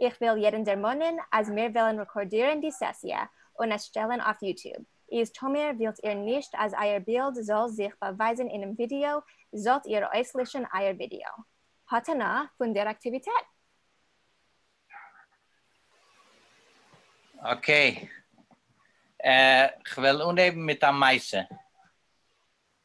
איך וויל יעדן דערמאנען אז מיר וועלן רעקארדירן די סעסיע און עס שטעלן אויף יוטוב, איז טאמיר ווילט איר נישט אז אייער בילד זאל זיך באווייזן אינעם ווידיאו זאלט איר אויסלעשן אייער ווידיאו. האט הנאה פון דער אקטיוויטעט! אקעי, כ'וועל אנהייבן מיט א מעשה.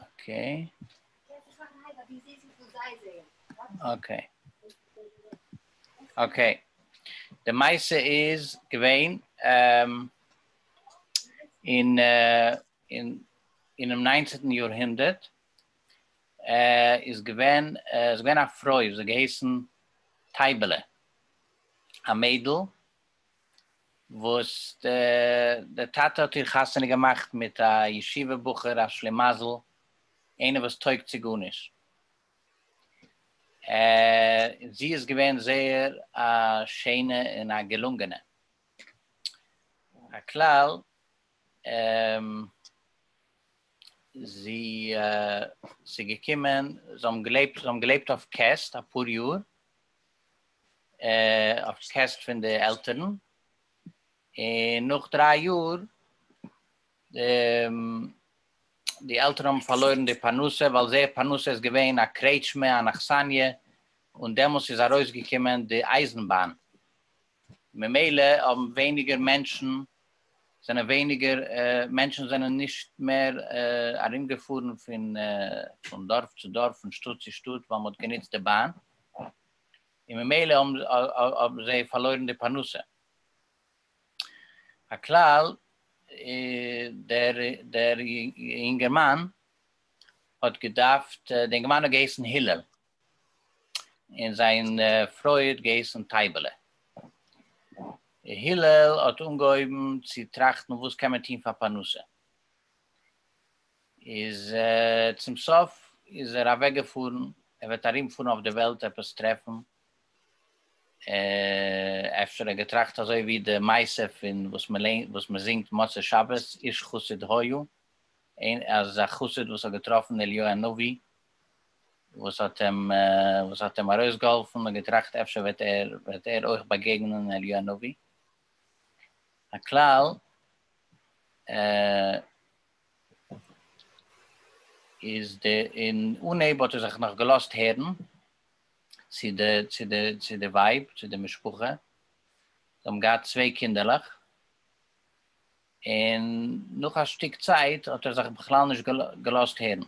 אוקיי. אוקיי. אוקיי. די מייסע איז געווען אין אין אינעם ניינצענטן יאר הונדערט איז געווען איז געווען א פרוי וואס האט געהייסן טייבעלע א מיידל וואס די טאטע האט איר חתונה געמאכט מיט א ישיבה בחור א שלימזל, איינער וואס טויג צו גארנישט, און זי איז געווען זייער א שענע און א געלונגענע, הכלל זי איז געקומען, זיי האבן געלעבט אויף קעסט אפאר יאר, אויף קעסט פון די עלטערן, און נאך דריי יאר די עלטערן האבן פארלוירן די פרנסה, ווייל זייער פרנסה איז געווען א קרעטשמע, אן אכסניא, און דעמאלס איז ארויסגעקומען די אייזנבאן, ממילא האבן ווייניגער מענטשן זענען ווייניגער מענטשן זענען נישט מער ארומגעפארן פון דארף צו דארף פון שטאט צו שטאט ווייל מ'האט גענוצט די באן און ממילא האבן זיי פארלוירן די פרנסה הכלל דער יונגערמאן האט געדארפט די יונגערמאן האט געהייסן הילל. און זיין פרוי האט געהייסן טייבעלע. הלל האט אנגעהויבן צו טראכטן וואס קען מען טון פאר פרנסה. איז צום סוף איז ער אוועק געפארן, ער וועט ארום פארן אויף די וועלט עפעס טרעפן. אפשר ער האט געטראכט אזוי ווי די מעשה פון וואס מען זינגט מוצאי שבת, איש חסיד היה, אז א חסיד וואס האט געטראפן אליהו הנביא, וואס האט אים וואס האט אים ארויסגעהאלפן און געטראכט אפשר וועט ער וועט ער אויך באגעגענען אליהו הנביא, הכלל איז די אין אנהייב האט ער זיך נאך געלאזט הערן צו די צו די צו די ווייב צו די משפחה זיי האבן געהאט צוויי קינדערלעך, און נאך א שטיק צייט האט ער זיך בכלל נישט געלאזט הערן,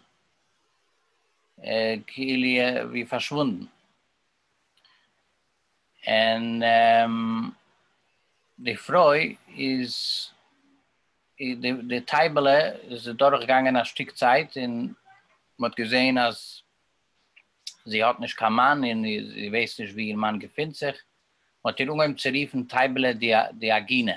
כאילו ווי פארשוואונדן, און די פרוי איז, די טייבעלע איז אדורך געגאנגען א שטיק צייט און מען האט געזען אז זי האט נישט קיין מאן און זי ווייסט נישט ווי איר מאן געפינט זיך, מען האט איר אנגעהויבן צו רופן טייבעלע די עגינה.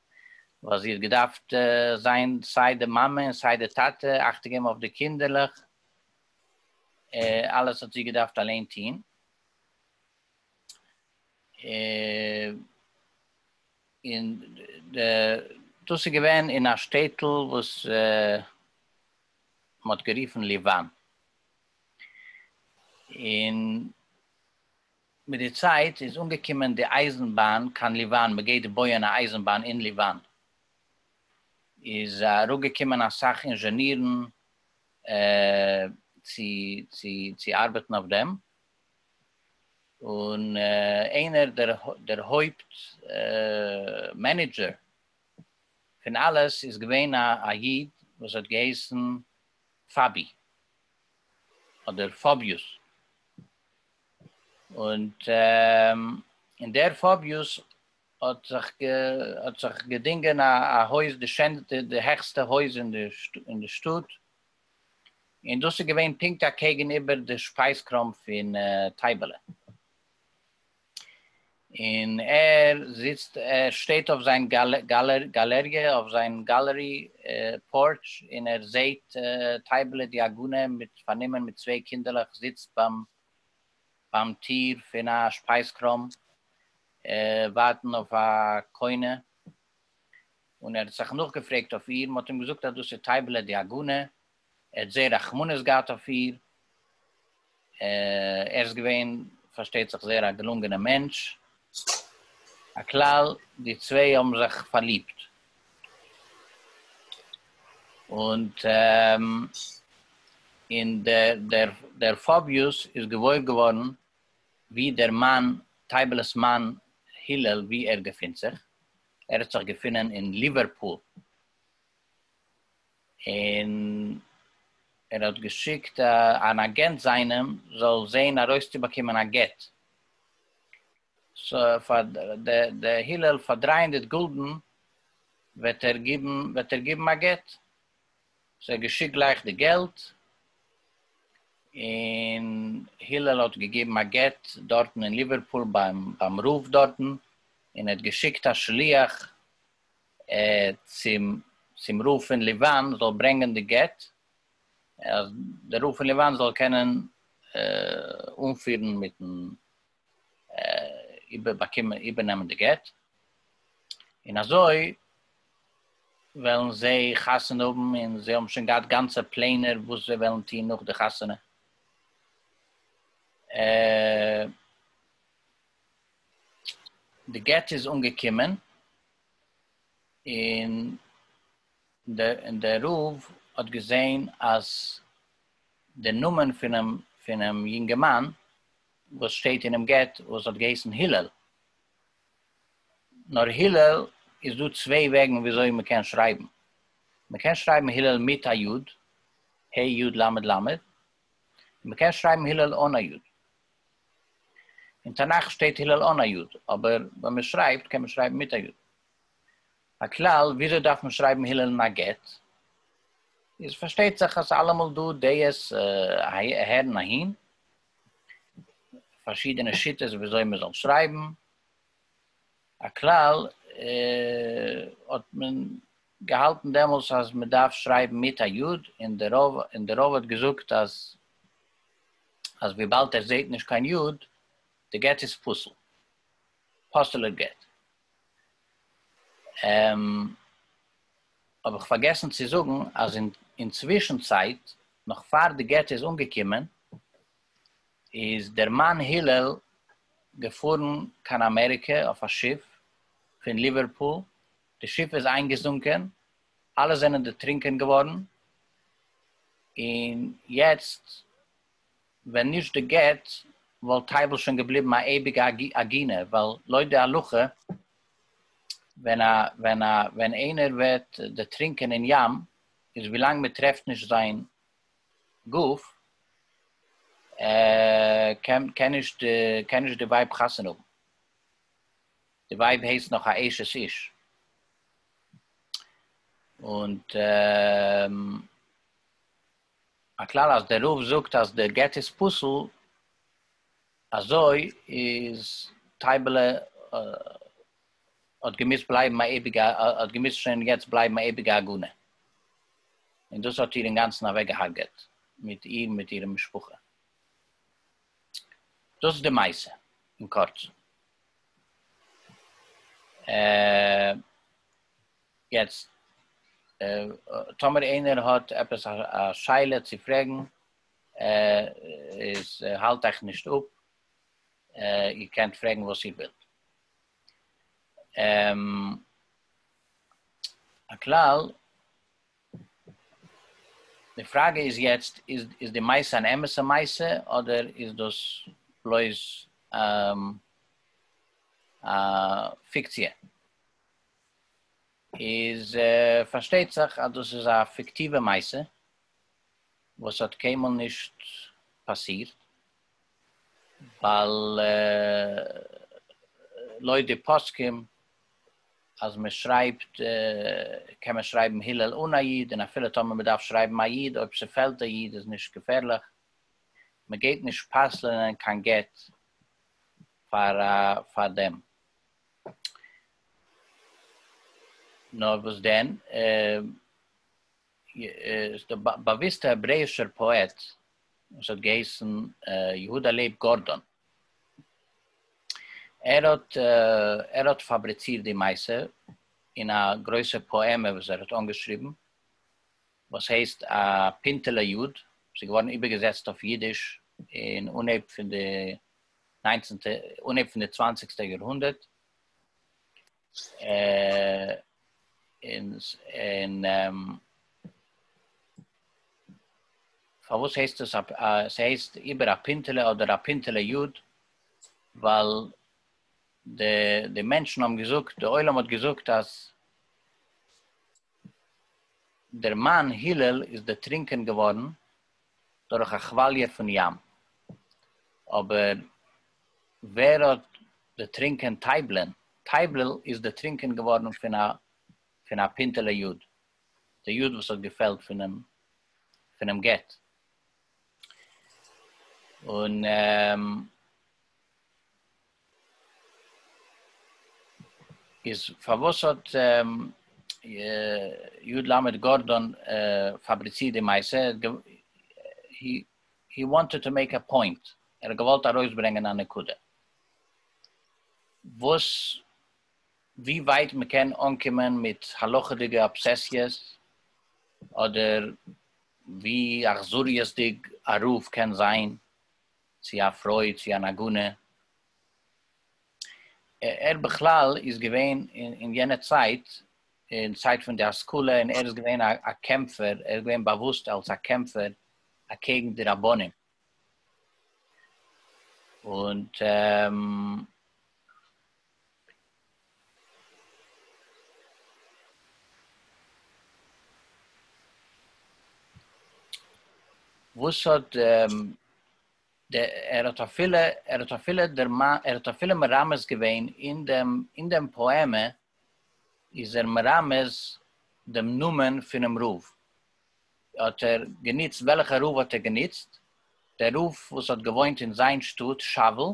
ווייל זי האט געדארפט זיין סיי די מאמע און סיי די טאטע, אכטונג געבן אויף די קינדערלעך, אלעס האט זי געדארפט אליין טון, און דאס איז געווען אין א שטעטל וואס מען האט גערופן ליוואן, און מיט די צייט איז אנגעקומען די אייזן באן קיין ליוואן מען גייט בויען א אייזן באן אין ליוואן איז אראפגעקומען אסאך אינזשענירן צו צו צו ארבעטן אויף דעם און איינער דער הויפט מענעדזשער פון אלעס איז געווען א א איד וואס האט געהייסן פאבי אדער פאביוס. און דער פאביוס האט זיך געדינגען א הויז, די שענסטע, די העכסטע הויז אין די שטאט, און דאס איז געווען פונקט אקעגן איבער די שפייזקראם פון טייבעלע. און ער זיצט ער שטייט אויף זיין גאלעריע אויף זיין גאלערי פארטש און ער זעהט טייבעלע די עגונה מיט פארנומען מיט צוויי קינדערלעך זיצט ביים ביים טיר פון א שפייז קראם ווארטן אויף א קונה און ער האט זיך נאכגעפרעגט אויף איר מען האט אים געזאגט אז דאס איז טייבעלע די עגונה. ער האט זייער רחמנות געהאט אויף איר, ער איז געווען פארשטייט זיך זייער א געלונגענער מענטש, הכלל די צוויי האבן זיך פארליבט, און דער פאביוס איז געוואויר געווארן ווי דער מאן, טייבל'ס מאן הילל ווי ער געפינט זיך, ער האט זיך געפונען אין ליווערפול, און ער האט געשיקט אן אגענט זיינעם זאל זעהן ארויסצובאקומען א גט פאר די הילל, פאר דרײַ הונדערט גולדן וועט ער גיבן וועט ער גיבן א גט, סאו ער האט געשיקט גלייך די געלט, און הילל האט געגעבן א גט דארטן אין ליווערפול ביים רב דארטן, און ער האט געשיקט א שליח צום רב פון ליוואן זאל ברענגען די גט, אז דער רב פון ליוואן זאל קענען אנפירן מיטן איבערנעמען די גט, און אזוי וועלן זיי חתונה האבן, און זיי האבן שוין געהאט גאנצע פלענער וואס זיי וועלן טון נאך די חתונה. די גט איז אנגעקומען און דער רב האט געזען אז די נאמען פונעם יונגערמאן וואס שטייט אינעם גט וואס האט געהייסן הילל, נאר הילל איז דא צוויי וועגן ווי אזוי מען קען שרייבן, מען קען שרייבן הילל מיט א יוד, ה' יוד למד למד, און מען קען שרייבן הילל אן א יוד. אין תנך שטייט הלל אן א י', אבער ווען מען שרייבט קען מען שרייבן מיט א י'. הכלל, וויאזוי דארף מען שרייבן הלל אין א גט? איז פארשטייט זיך אז אלעמאל דא דעות אהער און אהין, פארשידענע שיטות וויאזוי מען זאל שרייבן, הכלל האט מען געהאלטן דעמאלס אז מען דארף שרייבן מיט א י', און די רב האט געזאגט אז. אז וויבאלד ער זעהט נישט קיין יוד, די גט איז פסול. פסול'ער גט. און האב איך פארגעסן צו זאגן אז אין אינצווישן צייט, נאך פאר די גט איז אנגעקומען, איז דער מאן הילל געפארן קיין אמעריקע אויף א שיף פון ליווערפול, די שיף איז איינגעזונקען, אלע זענען דערטרינקען געווארן, און יעצט ווען נישט די גט וואלט טייבל שוין געבליבן א אייביגע עגינה, ווייל לויט די הלכה ווען א ווען א ווען איינער ווערט דערטרינקען אין ים איז ווילאנג מען טרעפט נישט זיין גוף קען קען נישט קען נישט די ווייב חתונה האבן. די ווייב הייסט נאך א אשת איש, און א כלל אז דער רב זאגט אז דער גט איז פסול, אזוי איז טייבעלע האט געמוזט בלייבן א אייביגע האט געמוזט שוין יעצט בלייבן א אייביגע עגונה, און דאס האט איר אינגאנצן אוועקגעהארגעט מיט איר און מיט אירע משפחה. דאס איז די מעשה אין קורצן. יעצט טאמער איינער האט עפעס א שאלה צו פרעגן איז האלט אייך נישט אפ, איר קענט פרעגן וואס איר ווילט. הכלל די פראגע איז יעצט, איז די מעשה אן אמת'ע מעשה אדער איז דאס בלויז א פיקציע? איז פארשטייט זיך אז דאס איז א פיקטיווע מעשה וואס האט קיינמאל נישט פאסירט, ווייל לויט די פוסקים אז מען שרייבט קען מען שרייבן הלל אן א יוד, און אפילו טאמער מען דארף שרייבן א יוד אויב ס'פעלט א יוד איז נישט געפערליך, מען גייט נישט פסל'נען קיין גט פאר פאר דעם. נאר וואס דען? איז דער באוויסטער העברעישער פאעט וואס האט געהייסן יהודה לייב גארדאן. ער האט ער האט פאבריצירט די מעשה אין א גרויסע פאעמע וואס ער האט אנגעשריבן וואס הייסט א פינטעלע יוד, עס איז געווארן איבערגעזעצט אויף אידיש אין אנהייב פון די ניינצנטע אנהייב פון די צוואנציגסטע יאר הונדערט. און פארוואס הייסט עס ס'הייסט איבער א פינטעלע אדער א פינטעלע יוד ווייל די די מענטשן האבן געזאגט די עולם האט געזאגט אז דער מן הלל איז דערטרינקען געווארן דורך א כוואליע פון ים, אבער ווער האט דערטרינקען טייבלען? טייבלעל איז דערטרינקען געווארן פון א פון א פינטעלע יוד, די יוד וואס האט געפעלט פונעם פונעם גט, און איז פארוואס האט י ל גארדאן פאבריצירט די מעשה? הי וואנטעד טו מעיק א פוינט, ער האט געוואלט ארויסברענגען א נקודה וואס ווי ווייט מען קען אנקומען מיט הלכה'דיגע אבסעסיעס אדער ווי אכזריות'דיג א רב קען זיין צו א פרוי צו אן עגונה, ער בכלל איז געווען אין יענע צייט, אין צייט פון די השכלה, און ער איז געווען א קעמפער, ער איז געווען באוואוסט אלס א קעמפער אקעגן די רבנים, און. וואס האט ער האט אפילו ער האט אפילו ער האט אפילו מרמז געווען אין דעם אין דעם פאעמע איז ער מרמז דעם נאמען פונעם רב האט ער גענוצט וועלכע רב האט ער גענוצט דער רב וואס האט געוואוינט אין זיין שטאט שאוול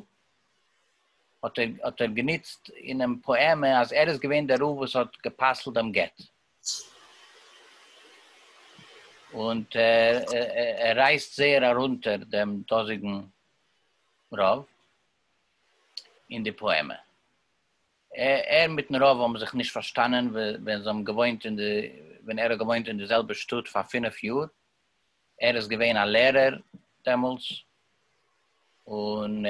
האט ער האט ער גענוצט אינעם פאעמע אז ער איז געווען דער רב וואס האט גע'פסל'ט דעם גט. און ער רייסט זייער ארונטער דעם דאזיגן רב אין די פאעמע. ער מיטן רב האבן זיך נישט פארשטאנען ווען זיי האבן געוואוינט אין די ווען ער האט געוואוינט אין די זעלבע שטאט פאר פינף יאר ער איז געווען א לערער דעמאלטס, און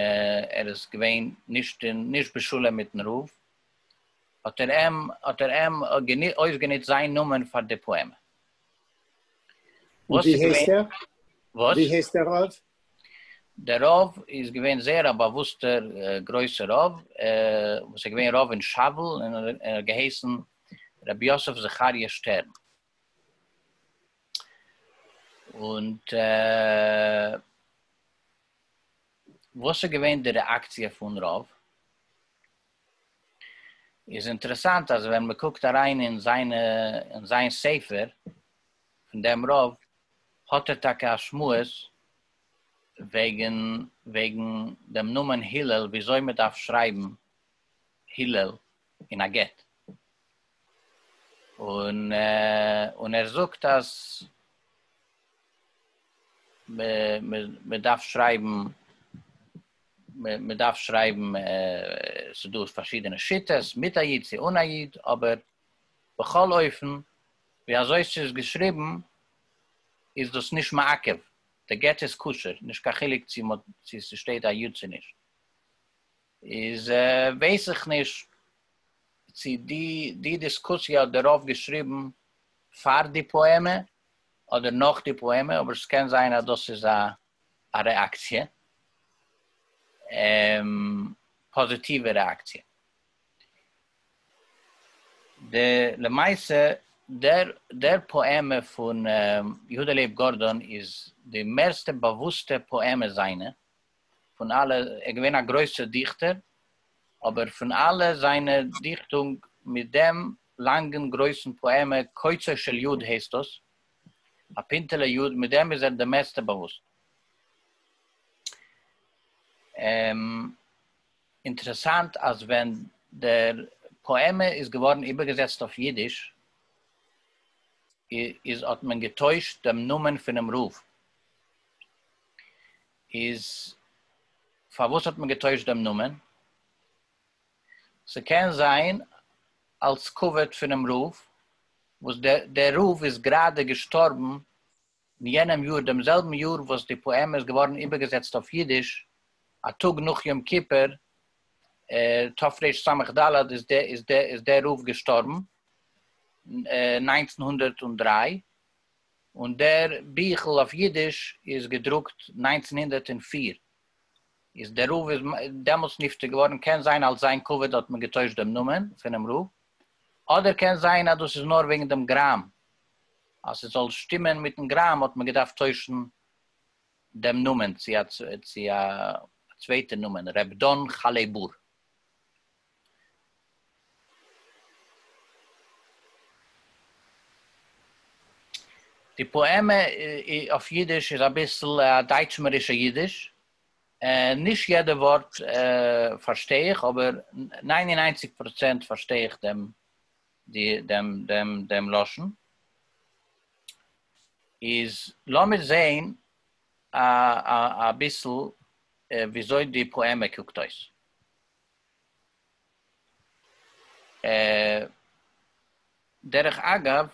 ער איז געווען נישט בשלום מיטן רב, האט ער אים האט ער אים אויסגענוצט זיין נאמען פאר די פאעמע. ווי הייסט ער? וואס? ווי הייסט דער רב? דער רב איז געווען זייער א באוואוסטער גרויסער רב, וואס איז געווען רב אין שאוול, און ער האט געהייסן רבי יוסף זכריה שטערן. און וואס איז געווען די רעאקציע פון רוב? איז אינטערעסאנט אז ווען מ'קוקט אריין אין זיינע אין זיין ספר פון דעם רב האט ער טאקע א שמועס וועגן וועגן דעם נאמען הילל וויאזוי מ'דארף שרייבן הילל אין א גט, און ער זאגט אז מען דארף שרייבן, מען דארף שרייבן, ס'איז דא פארשידענע שיטות, מיט א יוד צו אן א יוד, אבער בכל אופן ווי אזוי ס'איז געשריבן איז דאס נישט מעכב, די גט איז כשר, נישט קיין חילוק צו ס'שטייט א יוד צו נישט. איז ווייס איך נישט צו די די דיסקוסיע האט די רב געשריבן פאר די פאעמע אדער נאך די פאעמע, אבער ס'קען זיין אז דאס איז א רעאקציע, פאזיטיווע רעאקציע. די למעשה דער דער פאעמע פון יהודה לייב גארדאן איז די מערסטע באוואוסטע פאעמע זיינע, פון אלע, ער איז געווען א גרויסע דיכטער, אבער פון אלע זיינע דיכטונג מיט דעם לאנגן גרויסן פאעמע קוצו של יוד הייסט דאס, א פינטעלע יוד, מיט דעם איז ער די מערסטע באוואוסט. אינטערעסאנט אז ווען דער פאעמע איז געווארן איבערגעזעצט אויף אידיש איז האט מען געטוישט דעם נאמען פונעם רב, איז פארוואס האט מען געטוישט דעם נאמען? ס'קען זיין אלס כבוד פונעם רב, וואס דער רב איז גראדע געשטארבן אין יענעם יאר, דעם זעלבן יאר וואס די פאעמע איז געווארן איבערגעזעצט אויף אידיש, א טאג נאך יום כיפור תרס"ד איז דער רב געשטארבן, נײַנצן הונדערט דרײַ, און דער ביכל אויף אידיש איז געדרוקט נײַנצן הונדערט און פֿיר, איז דער רב איז דעמאלטס נפטר געווארן, קען זיין אלס זיין כבוד האט מען געטוישט דעם נאמען פונעם רב, אדער קען זיין אז דאס איז נאר וועגן דעם גראם, אז ס'זאל שטימען מיטן גראם האט מען געדארפט טוישן דעם נאמען צו א צווייטע נאמען, ר' דן חלעבור. די פאעמע אויף אידיש איז אביסל א דייטשמערישע אידיש, נישט יעדע ווארט פארשטיי איך אבער ניין און איינציג פראצענט פארשטיי איך דעם לשון, איז לאמיר זעהן אביסל וויאזוי די פאעמע קוקט אויס. דרך אגב,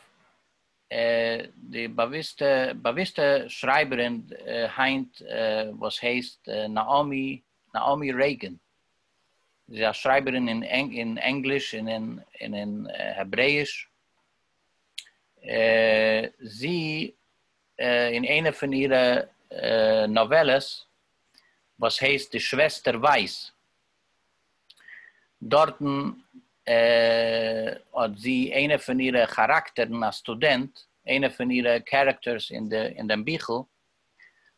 די באוויסטע שרייבערין היינט וואס הייסט נעאמי רעיגען, זי איז א שרייבערין אין ענגליש און אין העברעיש, זי אין איינע פון אירע נאוועלעס וואס הייסט די שוועסטער ווייס דארטן האט זי איינע פון אירע כאראקטערן א סטודענט איינע פון אירע קערעקטערס אין דעם ביכל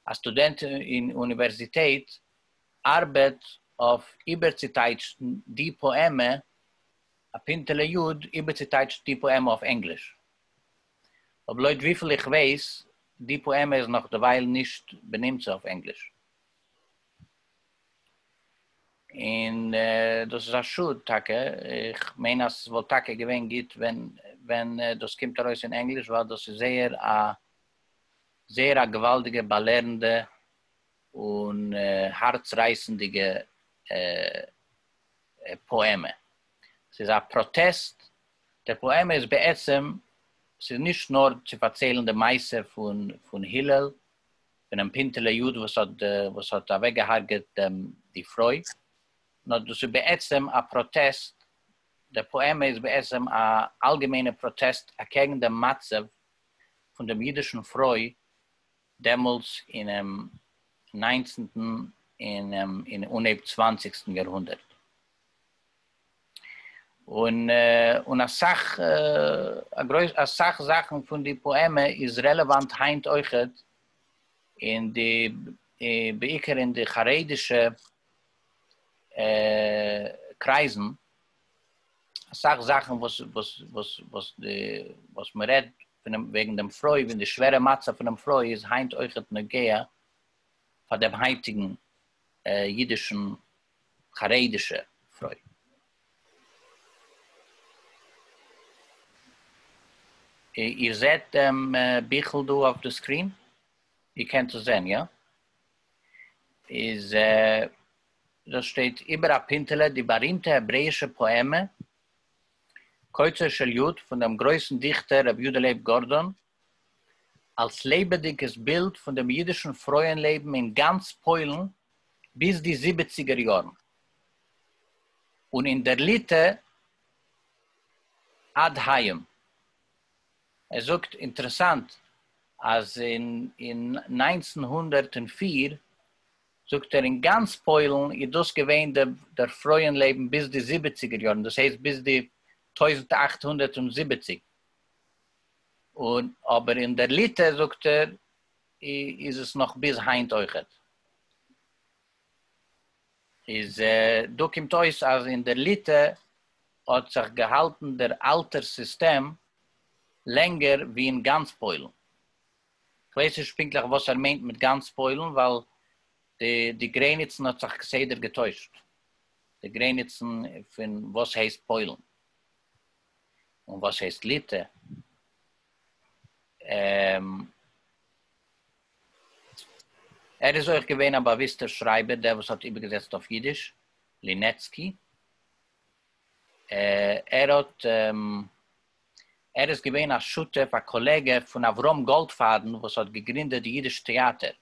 א סטודענט אין אוניווערזיטעט ארבעט אויף איבערצוטייטשן די פאעמע א פינטעלע יוד איבערצוטייטשן די פאעמע אויף ענגליש אבער לויט וויפיל איך ווייס די פאעמע איז נאך דערווייל נישט בנמצא אויף ענגליש, און דאס איז א שאד טאקע, איך מיין אז ס'וואלט טאקע געווען גוט ווען דאס קומט ארויס אין ענגליש ווייל דאס איז זייער א זייער א געוואלדיגע באלערנדע און הארץ רייסענדיגע פאעמע, ס'איז א פראטעסט דער פאעמע איז בעצם, ס'איז נישט נאר צו פארציילן די מעשה פון הלל, פונעם פינטעלע יוד וואס האט אוועקגעהארגעט די פרוי, נאר דאס איז בעצם א פראטעסט, דער פאעמע איז בעצם א אלגעמיינע פראטעסט אקעגן דעם מצב פון דעם אידישן פרוי דעמאלטס אינעם ניינצנטן און אנהייב צוואנציגסטן יאר הונדערט. און אסאך אסאך זאכן פון די פאעמע איז רעלעוואנט היינט אויכעט אין די בעיקר אין די חרדישע קרייזן, אסאך זאכן וואס וואס וואס וואס די וואס מען רעדט וועגן דעם פרוי און די שווערע מצב פונעם פרוי איז היינט אויכעט נוגע פאר דעם היינטיגן אידישן חרדישע פרוי. איר זעט דעם ביכל דא אויף די סקרין? איר קענט עס זען, יא? איז דאס שטייט איבער א פינטעלע די בארימטע העברעאישע פאעמע קוצו של יו ט פון דעם גרויסן דיכטער רבי יודא לייב גארדאן, אלס לעבעדיגעס בילד פון דעם אידישן פרויען לעבן אין גאנץ פוילן, ביז די זיבעציגער יארן, און אין דער ליטע עד היום. ער זאגט אינטערעסאנט אז אין אין נײַנצן הונדערט און פֿיר זאגט ער אין גאנץ פוילן איז דאס געווען די דער פרויען לעבן ביז די זיבעציגער יארן דאס הייסט ביז די טויזנט אַכט הונדערט זיבעציק און אבער אין דער ליטע זאגט ער איז עס נאך ביז היינט אויכעט. איז דא קומט אויס אז אין דער ליטע האט זיך געהאלטן דער אלטער סיסטעם לענגער ווי אין גאנץ פוילן. כ'ווייס נישט פונקטליך וואס ער מיינט מיט גאנץ פוילן ווייל די די גרעניצן האט זיך כסדר געטוישט, די גרעניצן פון וואס הייסט פוילן און וואס הייסט ליטע. ער איז אויך געווען א באוויסטער שרייבער, דער וואס האט איבערגעזעצט אויף אידיש, לינעצקי. ער האט, ער איז געווען א שותף, א קאלעגע פון אברהם גאלדפאדן וואס האט געגרינדעט די אידיש טעאטער.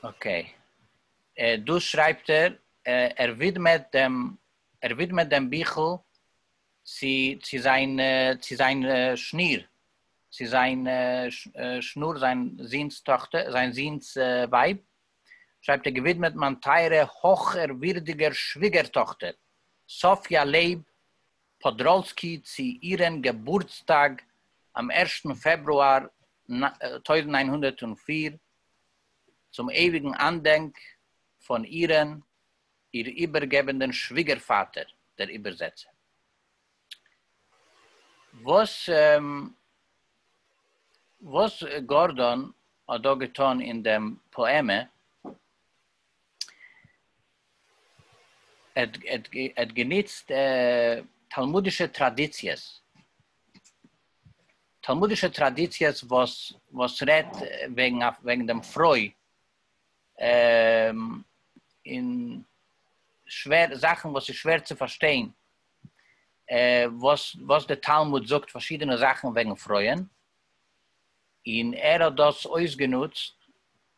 אקעי. דא שרייבט ער ער ווידמעט דעם ער ווידמעט דעם ביכל צו צו זיין צו זיין שניר צו זיין שנור זיין זונ'ס טאכטער זיין זונ'ס ווייב שרייבט ער געווידמעט מיין טייערע הויכערווירדיגער שוויגער טאכטער סאפיא לעב פאדראלסקי צו אירען געבורטסטאג אום ערשטן פעברואר טויזנט נײַן הונדערט פֿיר צום אייביגן אנדענק פון אירען איר איבערגעבענדען שוויגערפאטער דער איבערזעצער וואס גארדאן האט דא געטאן אין דעם פאעמע האט גענוצט תלמודישע טראדיציעס, תלמודישע טראדיציעס וואס רעדט וועגן דעם פרוי און זאכן וואס איז שווער צו פארשטיין, וואס די תלמוד זאגט פארשידענע זאכן וועגן פרויען, און ער האט דאס אויסגענוצט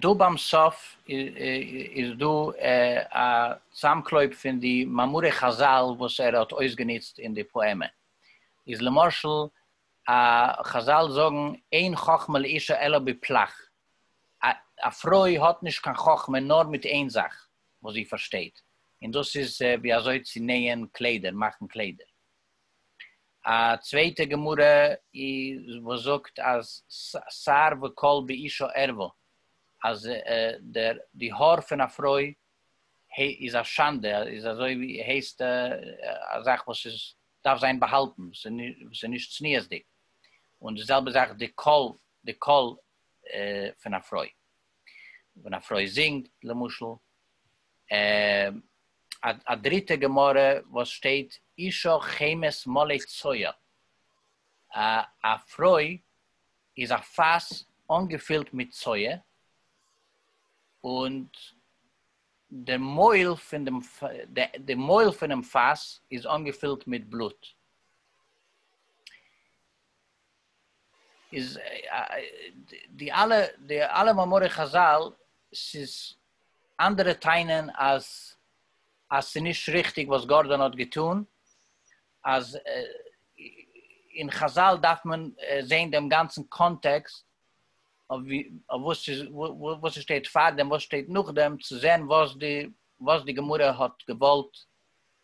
דא ביים סוף איז דא א צאמקלויב פון די מאמרי חזל וואס ער האט אויסגענוצט אין די פאעמע, איז למשל חזל זאגן אין חכמה לאישה אלא בפלח, א פרוי האט נישט קיין חכמה נאר מיט איין זאך וואס זי פארשטייט, און דאס איז ווי אזוי צו נעהען קליידער, מאכן קליידער. א צווייטע גמרא וואס זאגט אז שיער וקול באישה ערווה, אז די האר פון א פרוי איז א שאנדע, איז אזוי ווי הייסט א זאך וואס איז דארף זיין באהאלטן, וואס איז נישט צניעות'דיג, און די זעלבע זאך די קול די קול פון א פרוי, ווען א פרוי זינגט למשל, א דריטע גמרא וואס שטייט אישה חמת מלא צואה, א פרוי איז א פאס אנגעפילט מיט צואה, און די מויל פון דעם די מויל פונעם פאס איז אנגעפילט מיט בלוט. איז די אלע די אלע מאמרי חזל ס'איז אנדערע טענה'ן אז אז ס'איז נישט ריכטיג וואס גארדאן האט געטון אז אין חזל דארף מען זעהן דעם גאנצן קאנטעקסט אויף וואס וואס ס'שטייט פארדעם וואס ס'שטייט נאכדעם צו זעהן וואס די וואס די גמרא האט געוואלט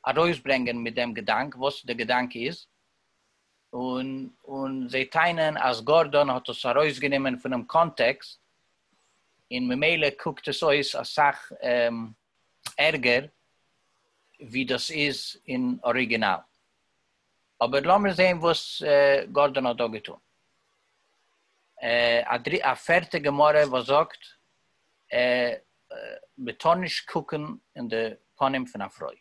ארויסברענגען מיט דעם געדאנק וואס די געדאנק איז און און זיי טענה'ן אז גארדאן האט עס ארויסגענומען פונעם קאנטעקסט און ממילא קוקט עס אויס אסאך ערגער ווי דאס איז אין אריגינאל. אבער לאמיר זעהן וואס גארדאן האט דא געטון. א פערטע גמרא וואס זאגט מען טאר נישט קוקן אין די פנים פון א פרוי.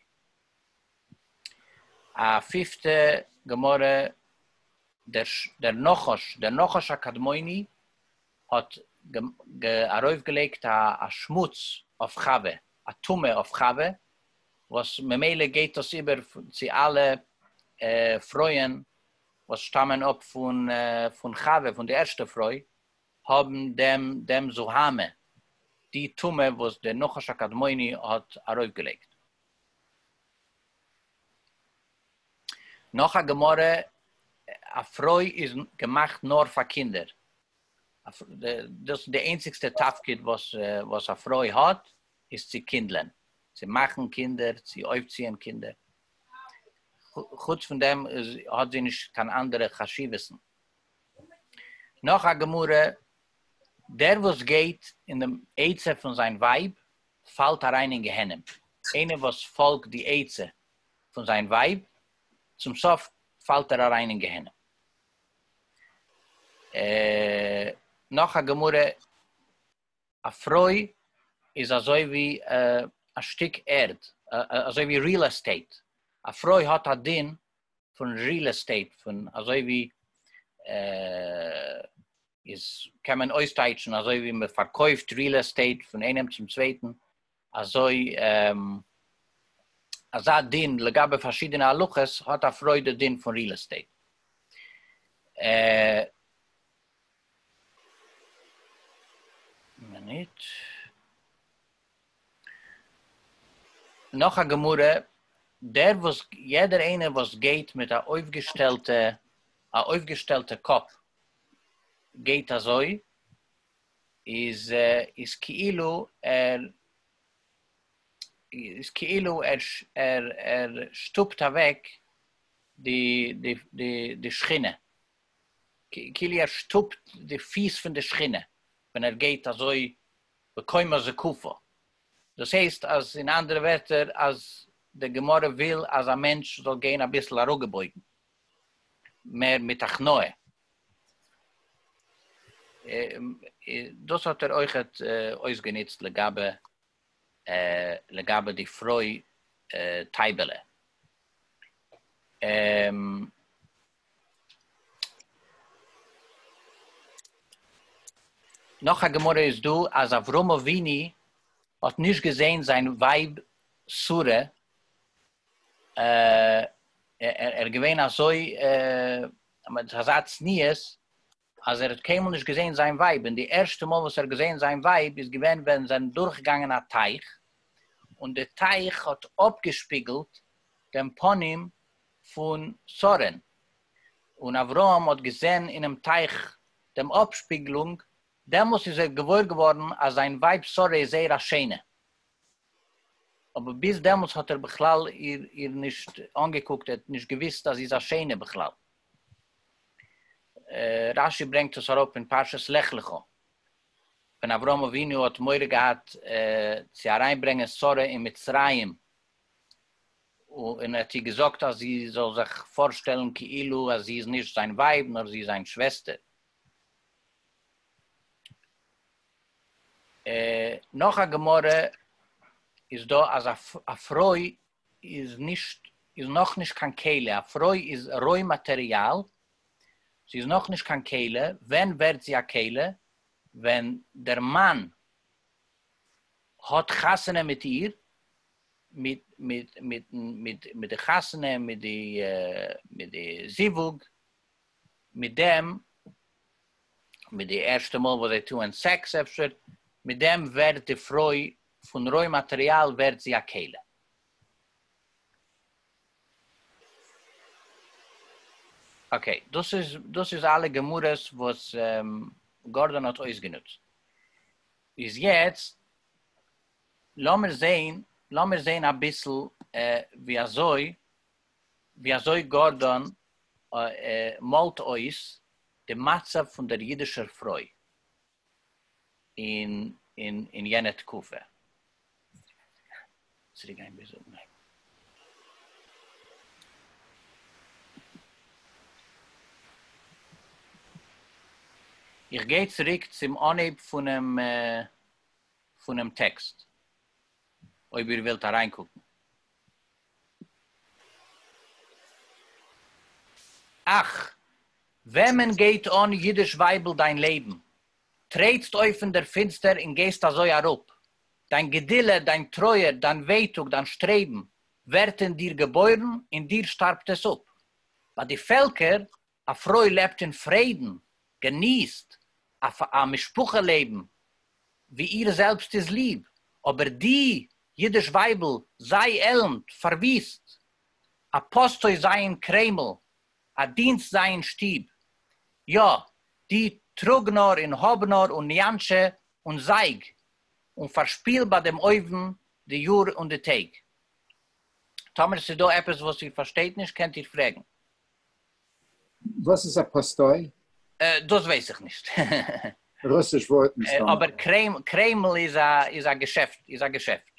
א פיפטע גמרא דער דער נחש דער נחש הקדמוני האט ארויף געלייגט א א שמוץ אויף חוה א טומאה אויף חוה וואס ממילא גייט דאס איבער צו אלע פרויען וואס שטאמען אפ פון פון חוה פון די ערשטע פרוי האבן דעם דעם זוהמה די טומאה וואס דער נחש הקדמוני האט ארויף געלייגט. נאך א גמרא, א פרוי איז געמאכט נאר פאר קינדער, דאס איז די איינציגסטע תפקיד וואס א פרוי האט, איז צו קינדלען, צו מאכן קינדער, צו אויפציען קינדער, חוץ פון דעם האט זי נישט קיין אנדערע חשיבות'ן. נאך א גמרא, דער וואס גייט אין דעם עצה פון זיין ווייב, פאלט אריין אין גיהנום, איינער וואס פאלגט די עצה פון זיין ווייב, צום סוף פאלט ער אריין אין גיהנום. נאך א גמרא, א פרוי איז אזוי ווי א שטיק ערד, אזוי ווי ריעל עסטעיט, א פרוי האט א דין פון ריעל עסטעיט, פון אזוי ווי איז קען מען אויסטייטשן אזוי ווי מען פארקויפט ריעל עסטעיט פון איינעם צום צווייטן, אזוי אזא דין לגבי פארשידענע הלכות האט א פרוי די דין פון ריעל עסטעיט. נאך א גמרא, דער וואס יעדער איינער וואס גייט מיט א אויפגעשטעלטע א אויפגעשטעלטע קאפ גייט אזוי איז איז כאילו ער איז כאילו ער ער שטופט אוועק די די די די שכינה כאילו ער שטופט די פיס פון די שכינה ווען ער גייט אזוי בקומה זקופה דאס הייסט אז אין אנדערע ווערטער אז די גמרא וויל אז א מענטש זאל גיין אביסל אראגעבויגן. מער מיט הכנעה, דאס האט ער אויכעט אויסגענוצט לגבי לגבי די פרוי טייבעלע. נאך א גמרא איז דא אז אברהם אבינו האט נישט געזעהן זיין ווייב שרה ער איז געווען אזוי מיט אזא צניעות אז ער האט קיינמאל נישט געזעהן זיין ווייב, און די ערשטע מאל וואס ער האט געזעהן זיין ווייב איז געווען ווען זיי זענען דורכגעגאנגען א טייך, און די טייך האט אפגעשפיגלט דעם פנים פון שרה'ן, און אברהם האט געזעהן אינעם טייך דעם אפשפיגלונג, דעמאלס איז ער געוואויר געווארן אז זיין ווייב שרה איז זייער א שענע. אבער ביז דעמאלטס האט ער בכלל איר נישט אנגעקוקט, ער האט נישט געוואוסט אז זי איז א שענע בכלל. רש י ברענגט עס אראפ אין פרשת לך לך, ווען אברהם אבינו האט מורא געהאט צו אריינברענגען שרה אין מצרים, און ער האט איר געזאגט אז זי זאל זיך פארשטעלן כאילו אז זי איז נישט זיין ווייב נאר זי איז זיין שוועסטער. נאך א גמרא איז דא אז א פרוי איז נישט איז נאך נישט קיין כלה, א פרוי איז רוי מאטעריאל, זי איז נאך נישט קיין כלה, ווען ווערט זי א כלה? ווען דער מאן האט חתונה מיט איר, מיט מיט מיטן מיט מיט די חתונה מיט די מיט די זיווג, מיט דעם. מיט די ערשטע מאל וואס זיי טוען סעקס אפשר, מיט דעם ווערט די פרוי פון רוי מאטריאל ווערט זי א כלה. אקעי, דאס איז דאס איז אלע גמרות וואס גארדאן האט אויסגענוצט. איז יעצט לאמיר זעהן לאמיר זעהן אביסל ווי אזוי ווי אזוי גארדאן מאלט אויס די מצב פון דער אידישער פרוי אין יענע תקופה. איך גיי צוריק צום אנהייב פונעם טעקסט, אויב איר ווילט אריינקוקן. אַך, װעמען גײט אָן, ייִדיש װײַבל, דײַן לעבן? טרעטסט אױף אין דער פֿינצטער און גײסט אַזױ אַראָפּ. דײַן געדילע, דײַן טרױער, דײַן װעטאָג, דײַן שטרעבן, װערט אין דיר געבױרן, אין דיר שטאַרבט עס אָפּ. בײַ די פֿעלקער א פרוי לעבט אין פרעדן, געניסט א א משפחה לעבן ווי איר זעלבסט איז ליב, אבער די אידיש ווייבל זיי עלנד, פארוויסט, א פאסט הויז זיי אין קרעמל, א דינסט זיי אין שטוב, יא, די טראג נאר און האב נאר און ניאנטשע און זייג און פארשפיל ביי דעם אויבן די יאר און די טעג. טאמער ס'איז דא עפעס וואס איר פארשטייט נישט קענט איר פרעגן. וואס איז א פאסטוי? דאס ווייס איך נישט. רוסיש ווארט מסתמא. אבער קרעמל איז א איז א געשעפט איז א געשעפט.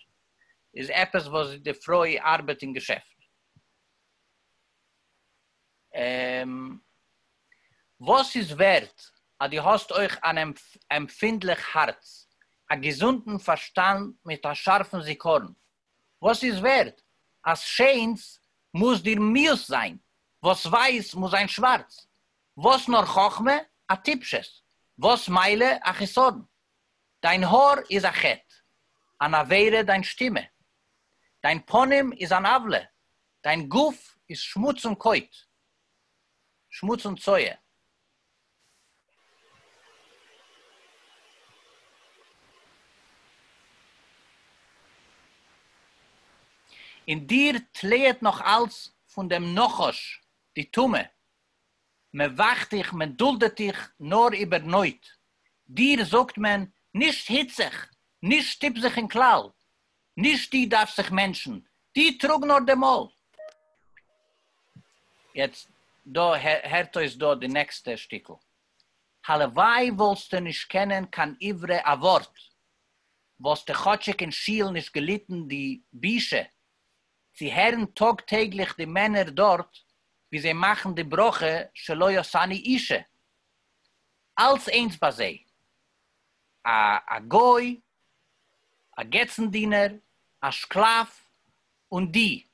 איז עפעס וואס די פרוי ארבעט אין געשעפט. וואס איז ווערט אז דו האסט אויך אן עמפינדליך הארץ, א געזונטן פארשטאנד מיט א שארפן זיכרון. וואס איז ווערד אז שיינס מוז דיר מיאוס זיין, וואס ווייס מוז זיין שווארץ, וואס נאר חכמה א טיפשות, וואס מילא א חיסרון, דיין האר איז א חטא, אן עבירה דיין שטימע, דיין פנים איז אן עוולה, דיין גוף איז שמוץ און קויט, שמוץ און צואה. אין דיר טליעט נאך אלץ פון דעם נחש די טומאה, מען וואכט דיך, מען דולדעט דיך נאר איבער נויט, דיר זאגט מען, נישט היץ זיך, נישט שטופ זיך אין כלל, נישט די דארפסט זיך מענטשן, די טראג נאר די מויל. יעצט דא הערט אויס דא די נעקסטע שטיקל, הלוואי וואלסטו נישט קענען קיין עברי א ווארט, וואלסטו כאטשיג אין שיל נישט געליטן די בושה צו הערן טאג טעגליך די מענער דארט ווי זיי מאכן די ברכה שלא עשני אישה, אלץ איינס ביי זיי, א א גוי, א געצן דינער, א שקלאף, און די.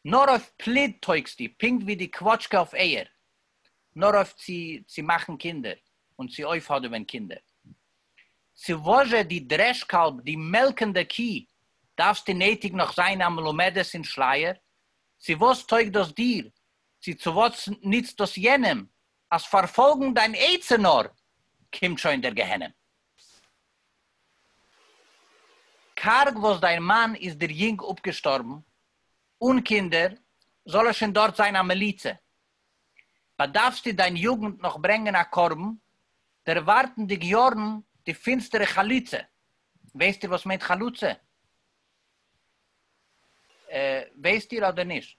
נאר אויף פליד טויגסטו, פונקט ווי די קוואטשקע אויף אייער, נאר אויף צו צו מאכן קינדער, און צו אויפהאדעווען קינדער. צו וואזשע די דרעש קאלב, די מעלקענדע קי, דארפסטו נעטיג נאך זיין א מלומדת אין שלייער? צו וואס טויג דאס דיר, צו צו וואס נוצט דאס יענעם? אז פארפאלגן דיין עצה נאר, קומט שוין דער גיהנום. קארג וואס דיין מאן איז דיר יונג אפגעשטארבן, אן קינדער, זאל ער שוין דארט זיין א מליצה. באדארפסטו דיין יוגנט נאך ברענגען א קרבן, דערווארטנדיג יארן די פינסטערע חלוצה. ווייסט איר וואס מיינט חלוצה? ווייסט איר אדער נישט?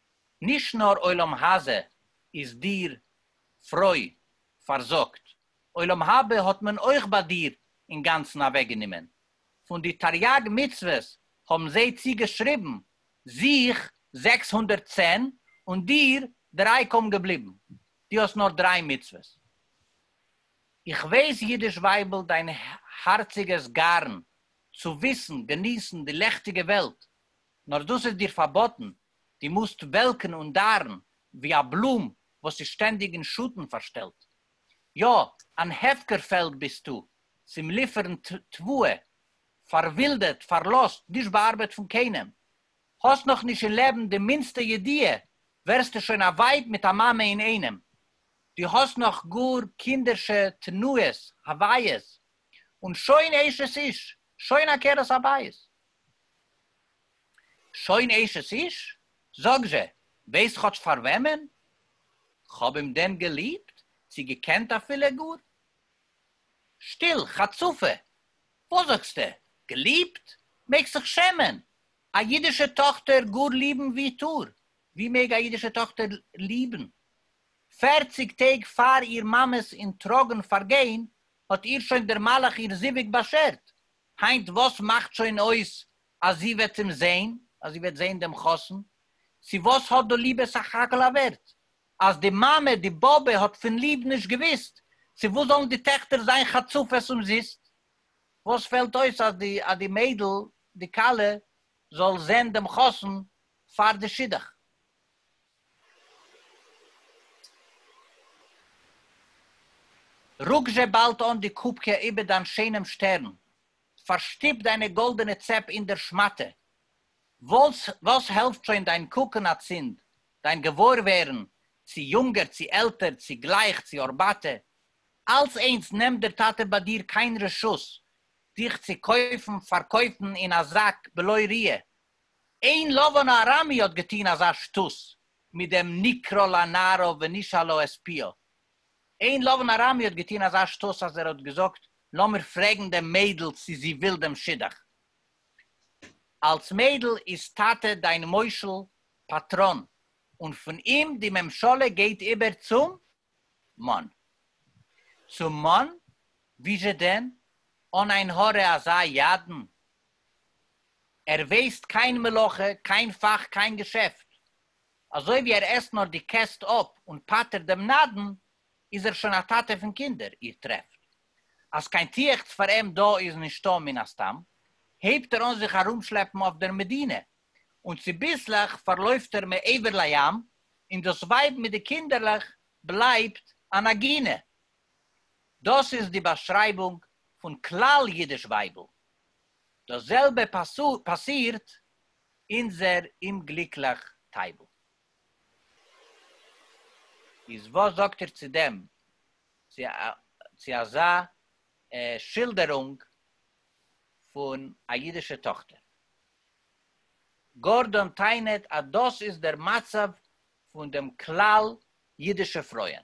נישט נאר עולם הזה איז דיר, פרוי, פארזאגט, עולם הבא האט מען אויך ביי דיר אינגאנצן אוועקגענומען. פון די תריג מצוות האבן זיי צוגעשריבן זיך זעקס הונדערט צען און דיר דריי קוים געבליבן. דו האסט נאר דריי מצוות. איך ווייס אידיש ווייבל דיין הארציגערס גארן צו וויסן געניסן די לעכטיגע וועלט, נאר דאס איז דיר פארבאטן. דו מוזט וועלקן און דאַרן, ווי אַ בלום, וואָס איז שטענדיק אין שאָטן פֿאַרשטעלט. יאָ, אַן הפֿקר-פֿעלד ביסטו, צום ליפֿערן תּבֿואה, פֿאַרווילדעט, פֿאַרלאָזט, נישט באַאַרבעט פֿון קיינעם. האָסט נאָך נישט אין לעבן די מינדסטע ידיעה, ווערסטו שוין אַ ווײַב מיט אַ מאַמע אין איינעם. דו האָסט נאָך גאָר קינדערשע תּנועות, הוויות, און שוין אשת-איש, שוין עקרת-הבית. שוין אשת איש? זאג זשע, ווייסט כאטש פאר וועמען? כ'האב אים דען געליבט, צי געקענט אפילו גאר? שטיל, חצופה! וואס זאגסטע? געליבט? מעגסט זיך שעמען! א אידישע טאכטער גאר ליבן? ווי טאר, ווי מעג א אידישע טאכטער ליבן? פערציג טעג פאר איר מאמע'ס אין טראגן פארגיין, האט איר שוין דער מלאך איר זיווג באשערט, היינט וואס מאכט שוין אויס אז זי וועט אים זעהן, אז זי וועט זעהן דעם חתן, צו וואס האט דו ליבע סך הכל א ווערט? אז די מאמע, די באבע, האט פון ליב נישט געוויסט, צו וואס זאלן די טעכטער זיין חצופות אומזיסט? וואס פעלט אויס אז די אז די מיידל, די כלה, זאל זעהן דעם חתן פאר די שידוך? רוק זשע באלד אן די קופקע איבער דיין שענעם שטערן, פארשטופ דיינע גאלדענע צעפ אין דער שמאטע. וואס וואס העלפט שוין דיין קוקן אצינד, דיין געוואוירווערן, צי יונגער צי עלטער, צי גלייך צי ארבאטע, אלץ איינס נעמט דער טאטע ביי דיר קיין רשות דיך צי קויפן פארקויפן אין א זאק בלוי ריה. אין לבן הארמי האט געטוהן אזא שטות מיט דעם נקרא לנערו ונשאל לו את פיו. אין לבן ארמי האט געטון אזא שטות אז ער האט געזאגט לאמיר פרעגן דעם מיידל צו זי וויל דעם שידוך. אלס מיידל איז טאטע דיין מושל פטרון און פון אים די ממשלה גייט איבער צום מאן. צום מאן? וויאזשע דען? אן עין הרע אזא ידען? ער וועסט קיין מלאכה, קיין פאך, קיין געשעפט. אזוי ווי ער עסט נאר די קעסט אפ און פטר'ט דעם נדן, איז ער שוין א טאטע פון קינדער, איר טרעפט אז קיין תיחת פאר אים דא איז נישטא, מן הסתם הייבט ער אן זיך ארומשלעפן אויף דער מדינה, און צוביסלעך פארלויפט ער מעבר לים, און דאס ווייב מיט די קינדערלעך בלייבט אן עגינה. דאס איז די באשרייבונג פון כלל אידיש ווייבל. דאס זעלבע פאסירט אונזער אומגליקליך טייבל. איז וואס זאגט איר צו דעם, צו אזא שילדערונג פון א אידישע טאכטער? גארדאן טענה'ט אז דאס איז דער מצב פון דעם כלל אידישע פרויען,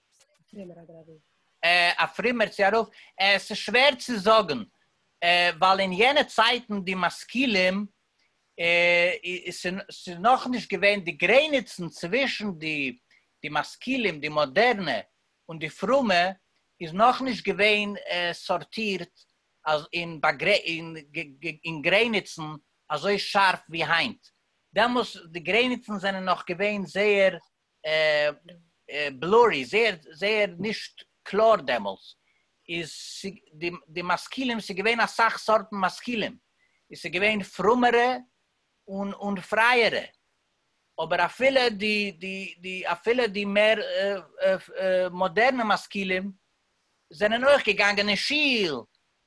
א פרומער צו א רב? עס איז שווער צו זאגן, ווייל אין יענע צייטן די משכילים, ס'איז נאכנישט געווען די גרעניצן צווישן די משכילים, די מאדערנע, און די פרומע, איז נאכנישט געווען סארטירט אין גרעניצן אזוי שארף ווי היינט. דעמאלס די גרעניצן זענען נאך געווען זייער בלורי, זייער זייער נישט קלאר דעמאלטס, איז די די משכילים ס'איז געווען אסאך סארטן משכילים, איז ס'איז געווען פרומערע און און פרייערע, אבער אפילו די די די אפילו די מער מאדערנע משכילים זענען אויך געגאנגען אין שיל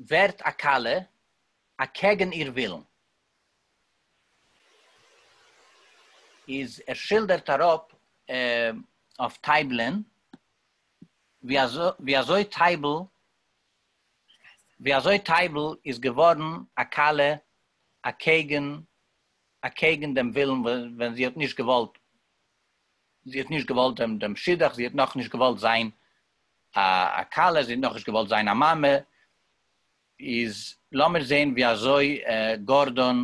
ווערט א כלה אקעגן איר ווילן, איז ער שילדערט אראפ אויף טייבלען ווי אזוי טייבל ווי אזוי טייבל איז געווארן א כלה אקעגן אקעגן דעם ווילן ווען זי האט נישט געוואלט זי האט נישט געוואלט דעם דעם שידוך זי האט נאכנישט געוואלט זיין א כלה, זי האט נאכנישט געוואלט זיין א מאמע, איז לאמיר זעהן ווי אזוי גארדאן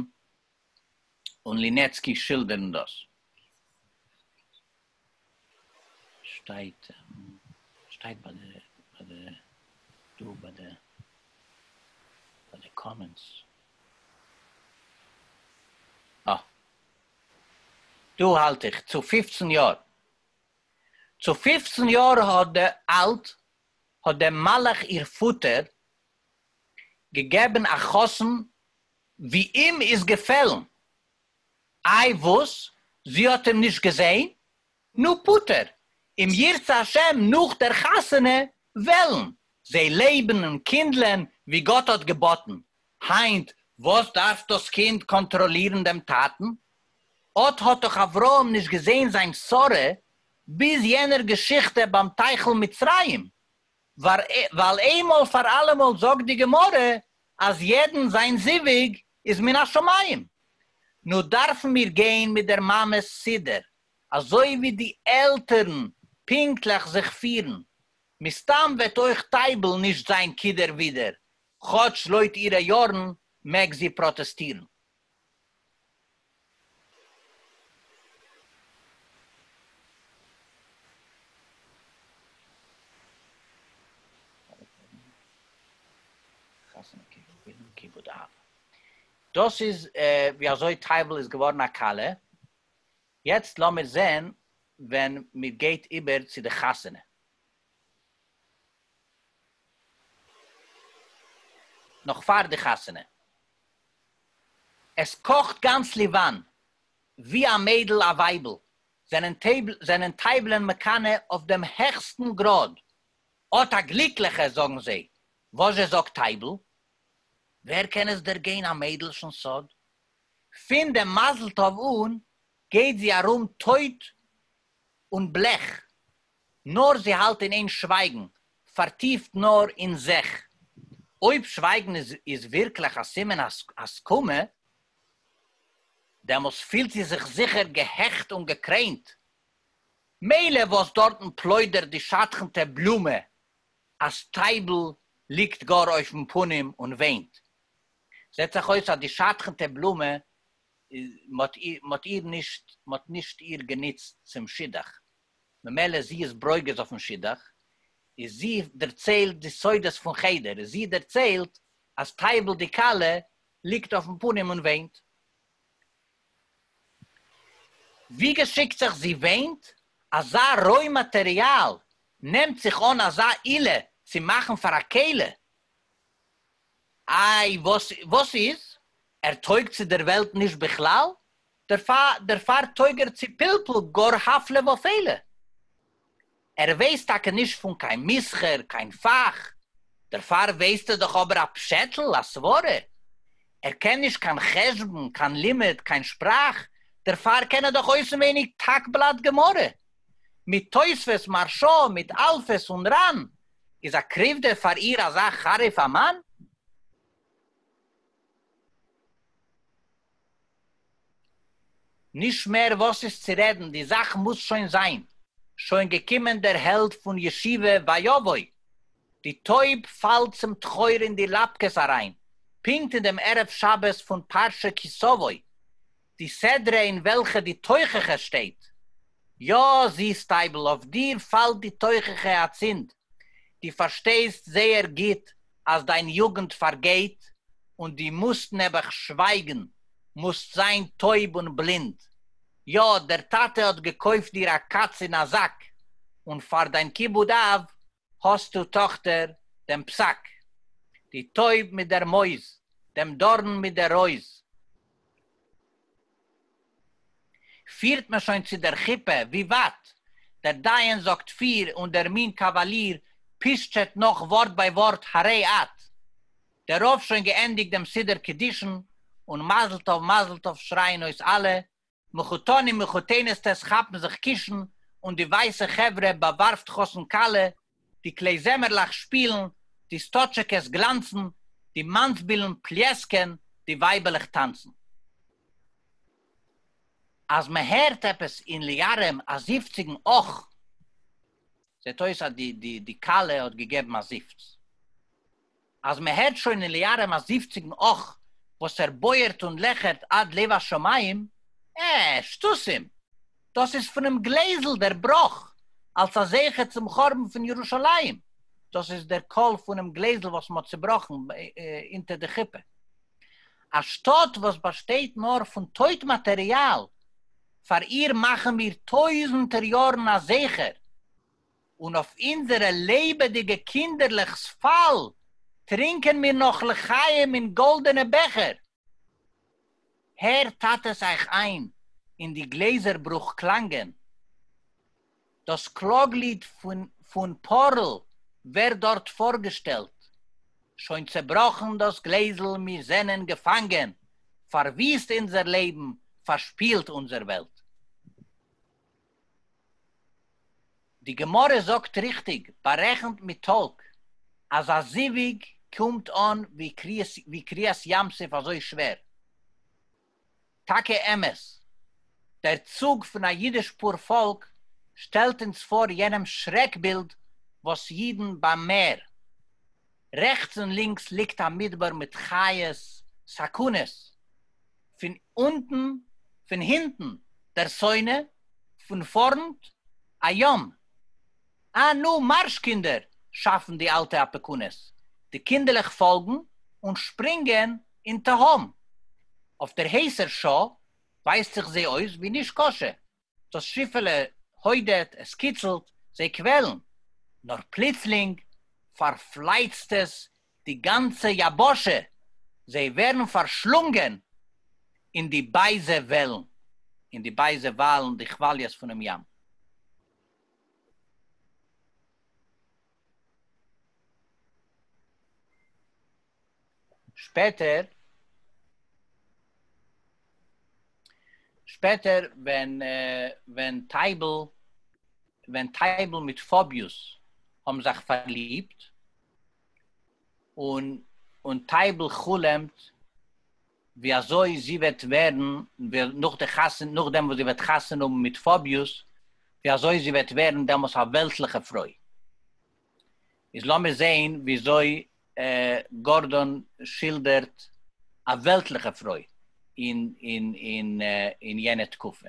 און לינעצקי שילדערן דאס. שטייט שטייט ביי די ביי די דא ביי די ביי די קאמענטס. אה דא האלט איך צו פֿופֿצן יאר. צו פֿופֿצן יאָר אַלט האָט דעם מלאך איר פֿאָטער געגעבן אַ חתן ווי אים איז געפֿעלן. אַי וואָס? זי האָט אים נישט געזען? נו, פֿאָטער, אם ירצה-השם, נאָך דער חתונה וועלן זיי לעבן און קינדלען ווי גאָט האָט געבאָטן, היינט וואס דארף דאס קינד קאנטראלירן דעם טאטן? אט האט דאך אברהם נישט געזען זיין שרה ביז יענער געשיכטע ביים טייכל מצרים, ווייל איינמאל פאר אלעמאל זאגט די גמרא אז יעדן זיין זיווג איז מן השמים. נו דארפן מיר גיין מיט דער מאמע'ס סידור, אזוי ווי די עלטערן פונקטליך זיך פירן. מסתם וועט אויך טייבל נישט זיין כדער ווידער, כאטש לויט אירע יארן מעג זי פראטעסטירן. דאס איז ווי אזוי טייוול איז געווארן א כלה, יעצט לאמיר זען ווען מיר גייט איבער צו די חתונה. נאך פאר די חתונה. עס קאכט גאנץ ליוואן, ווי א מיידל א ווייבל זענען טייבלען מקנא אויף דעם העכסטן גראד, אט א גליקליכע, זאגן זיי, וואס זשע זאגט טייבל? ווער קען עס דערגיין א מיידלשן סוד? פין דעם מזל טוב אן גייט זי ארום טויט און בלעך, נאָר זי האַלט אין איין שווייגן, פאַרטיפט נאָר אין זיך. אויב שווייגן איז ווירקלעך אַ סימן הסכמה, דעמאָלסט פילט זי זיך זיכער געהעכט און געקרעינט. מילא וואָס דאָרטן פּלוידערט די שדכנטע בלומע, אַז טייבל ליגט גאָר אויפן פּנים און וויינט. זעט זיך אויס, אַז די שדכנטע בלומע, מ'האָט איר נישט איר גענוצט צום שידוך. ממילא זי איז ברוגז אויפן שידוך, איז זי דערציילט די סודות פון חדר, איז זי דערציילט אז טייבל די כלה ליגט אויפן פנים און וויינט. ווי געשיקט זיך זי וויינט, אזא רוי מאטעריאל נעמט זיך אן אזא עילה צו מאכן פאר א כלה. איי וואס איז? ער טויג צו דער וועלט נישט בכלל? דערפאר טויג ער צו פלפול גאר הפלא ופלא, ער ווייסט טאקע נישט פון קיין מסחר, קיין פאך, דערפאר ווייסט ער דאך אבער א פשעטל, א סברה, ער קען נישט קיין חשבון, קיין לימוד, קיין שפראך, דערפאר קען ער דאך אויסענווייניג תק בלאט גמרא, מיט תוספות, מהרשא, מיט אלפות און רן, איז א קריוודע פאר איר אזא חריף א מאן? נישט מער וואס איז צו רעדן די זאך מוז שוין זיין שוין געקומען דער העלד פון ישיבה וואיוואוי די טויב פאלט צום טחור אין די לאפקעס אריין פונקט אין דעם ערב שבת פון פרשה כי סבוי די סדרה אין וועלכע די תוכחה שטייט. יא, זיס טייבל, אויף דיר פאלט די תוכחה אצינד. דו פארשטייסט זייער גוט אז דיין יוגנט פארגייט, און דו מוזט נעבעך שווייגן, מוזט זיין טויב און בלינד. יא, דער טאטע האט געקויפט דיר א קאץ אין א זאק, און פאר דיין כיבוד אב, האָסטו, טאָכטער, דעם פּסק, די טױב מיט דער מױז, דעם דאָרן מיט דער רױז. פֿירט מען שױן צו דער חופּה, װי װײַט? דער דײן זאָגט פֿיר, און דער מין קאַװאַליר פּישטשעט נאָך װאָרט בײַ װאָרט, הרי אַת! דער רבֿ שױן געענדיקט דעם סידור-קדישן, און מזל-טובֿ, מזל-טובֿ שרײַען אױס אַלע, מחותנים מחותנת'טעס כאפן זיך קישן און די ווייסע חברה באווארפט חתן כלה, די כלי זמר'לעך שפילן, די סטאטשעקעס גלאנצן, די מאנסבילן פליעסקען, די ווייבעלעך טאנצן. אז מען הערט עפעס אין ליארעם א זיפציגן אך! זעט אויס אז די כלה האט געגעבן א זיפץ. אז מען הערט שוין אין ליארעם א זיפציגן אך וואס ער בויערט און לעכערט עד לב השמים, אה, שטוסים! דאס איז פונעם גלעזל דער בראך, אלס א זכר צום חורבן פון ירושלים, דאס איז דער קול פונעם גלעזל וואס מען האט צובראכן אונטער די חופה. א שטאט וואס באשטייט נאר פון טויט מאטעריאל, פאר איר מאכן מיר טויזנטער יארן א זכר! און אויף אונזערע לעבעדיגע קינדערלעך'ס פאל טרינקען מיר נאך לחיים אין גאלדענע בעכער. הערט טאטעס אייך איין אין די גלעזער ברוך קלאנגען. דאס קלאגליד פון פארל ווערט דארט פארגעשטעלט. שוין צעבראכן דאס גלעזל מיר זענען געפאנגען, פארוויסט אונזער לעבן, פארשפילט אונזער וועלט. די גמרא זאגט ריכטיג בארעכנט מיט טאלק אז א זיווג קומט אן ווי קריעת ים סוף אזוי שווער. טאקע אמת, דער צוג פון א אידיש פאר פאלק שטעלט אונז פאר יענעם שרעק בילד וואס אידן ביים מער, רעכטס און לינקס ליגט א מדבר מיט חיות, סכנות. פון אונטן, פון הינטן, דער שׂונא, פון פאָרנט, אַ יום. אַ, נו, מאַרש, קינדער! שאַפֿן די אַלטע אַפּעקונעס. די קינדערלעך פֿאָלגן און שפּרינגען אין תּהום. אויף דער הייסער שעה ווייזט זיך זי אויס ווי נישקשה. דאָס שיפֿעלע הוידעט, עס קיצלט, זיי קוועלן. נאָר פּלוצלינג פֿאַרפֿלייצט עס די גאַנצע יבשה, זיי ווערן פֿאַרשלונגען אין די בייזע וועלן, אין די בייזע וואַלן, די כוואַליעס פֿונעם ים. שפעטער שפעטער ווען ווען טייבל ווען טייבל מיט פאביוס האבן זיך פארליבט און און טייבל חלומ'ט ווי אזוי זי וועט ווערן נאך די חתונה, נאכדעם וואס זי וועט חתונה האבן מיט פאביוס, ווי אזוי זי וועט ווערן דעמאלס א וועלטליכע פרוי. איז לאמיר זעהן ווי אזוי גארדאן שילדערט א וועלטליכע פרוי אין יענע תקופה.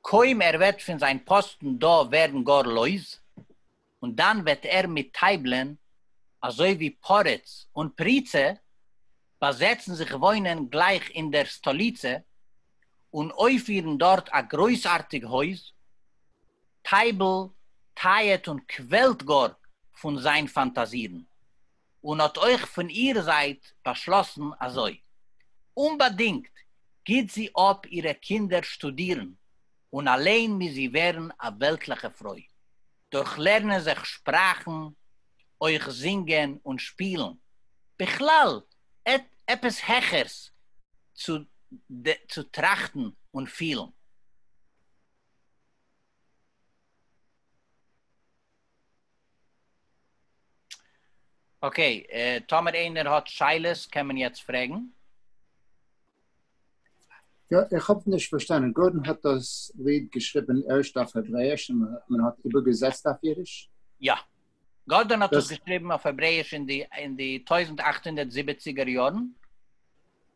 קוים ער וועט פון זיין פאסטן דא ווערן גאר לויז, און דאן וועט ער מיט טייבלען, אזוי ווי פרץ און פריצה, באזעצן זיך וואוינען גלייך אין דער סטאליצע, און אויפירן דארט א גרויסארטיג הויז. טייבל טייעט און קוועלט גאר פון זיין פאנטאזירן, און האט אויך פון איר זייט באשלאסן אזוי. אומבאדינגט גיט זי אפ אירע קינדער שטודירן און אליין מוז זי ווערן א וועלטליכע פרוי, דורך לערנען זיך שפראכן, אויך זינגען און שפילן, בכלל עפעס העכערס צו צו טראכטן און פילן. אקעי, טאמער איינער האט שאלות קען מען יעצט פרעגן. יא, איך האב נישט פארשטאנען, גארדאן האט דאס ליד געשריבן ערשט אויף העברעיש און מען האט איבערגעזעצט אויף אידיש? יא. גארדאן האט עס געשריבן אויף העברעיש אין די טויזנט אַכט הונדערט זיבעציגער יארן.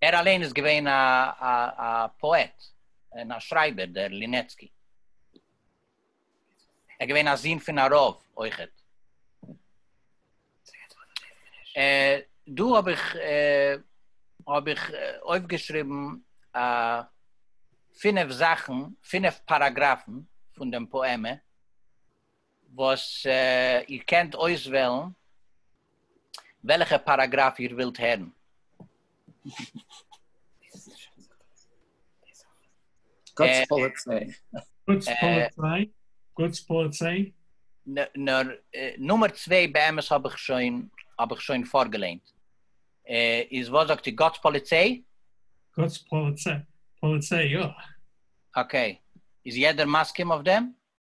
ער אליין איז געווען א פאעט און א שרייבער דער לינעצקי. ער איז געווען א זון פון א רב אויכעט. דא האב איך האב איך אויפגעשריבן פינף זאכן, פינף פאראגראפן פון דעם פאעמע, וואס איר קענט אויסוועלן וועלכע פאראגראף איר ווילט הערן. גוטס פאליציי. גוטס פאליציי. נאר נומער צוויי באמת האב איך שוין האב איך שוין פארגעליינט. איז וואס זאגט איר גוטס פאליציי? גוטס פאליציי יא. אקעי, איז יעדער מסכים אויף דעם?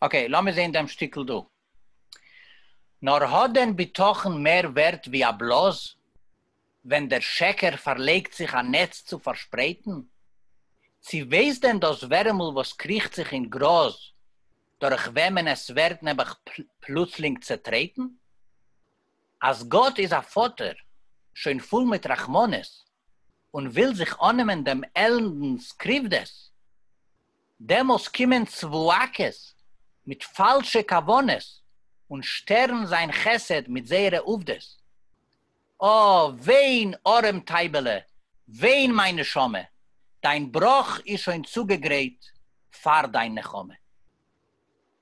אקעי, לאמיר זעהן דעם שטיקל דא. נאר האט דען בטחון מער ווערט ווי א בלאז ווען דער שקר פארלייגט זיך א נעץ צו פארשפרייטן? צו ווייסט דען דאס ווערעמל וואס קריכט זיך אין גראז דורך וועמען עס ווערט נעבעך פלוצלינג צעטרעטן? אז גאט איז א פאטער שוין פול מיט רחמנות און וויל זיך אננעמען דעם עלנדנ'ס קריוודעס, דעמאלס קומען צבועקעס מיט פאלשע כוונות און שטערן זיין חסד מיט זייערע עובדות. אה, וויין ארעם טייבעלע, וויין מיין נשמה, דיין בראך איז שוין צוגעגרייט פאר דיין נחמה.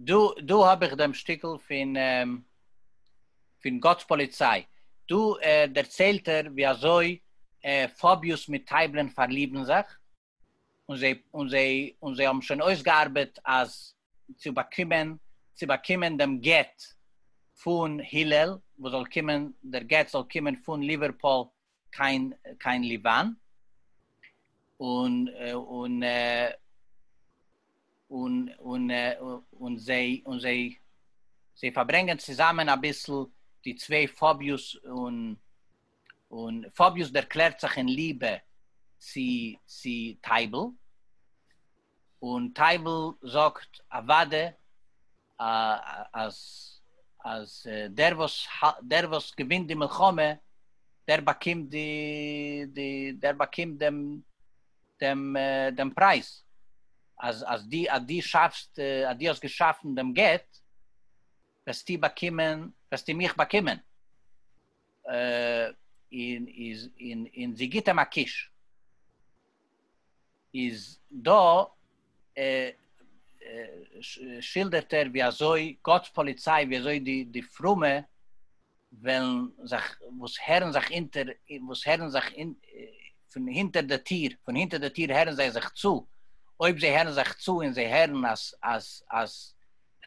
דא האב איך דעם שטיקל פון פון גאט'ס פאליציי, דא דערציילט ער ווי אזוי פאביוס מיט טייבלען פארליבן זיך, און זיי האבן שוין אויסגעארבעט אז צו באקומען צו באקומען דעם גט פון הילל, וואס זאל קומען, דער גט זאל קומען פון ליווערפאל קיין קיין ליבאן און און און און און זיי און זיי זיי פארברענגען צוזאמען אביסל די צוויי פאביוס און און פאביוס דערקלערט זיך אין ליבע צו צו טייבל און טייבל זאגט אוואדע אז אז דער וואס דער וואס געווינט די מלחמה דער באקומט די די דער באקומט דעם דעם דעם פרייז אז אז די אז די שאפסט אז די האסט געשאפן דעם גט וועסטו באקומען וועסטו מיך באקומען און איז און און זי גיבט אים א קיש. איז דא שילדערט ער ווי אזוי גאט'ס פאליציי ווי אזוי די די פרומע וועלן זיך וואס הערן זיך אונטער וואס הערן זיך פון הונטער די טיר פון הונטער די טיר הערן זיי זיך צו אויב זיי הערן זיך צו און זיי הערן אז אז אז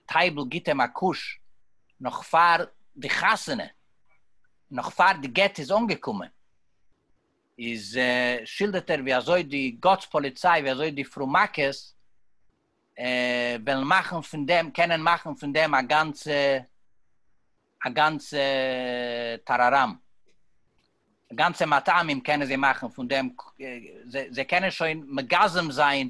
טייבל גיט אים א קוש נאך פאר די חתונה נאך פאר די גט איז אנגעקומען. איז שילדערט ער ווי אזוי די גאטס פאליציי ווי אזוי די פרומאקעס וועלן מאכן פון דעם קענען מאכן פון דעם א גאנצע א גאנצע טאראראם גאנצע מטעמים קענען זיי מאכן פון דעם זיי קענען שוין מגזם זיין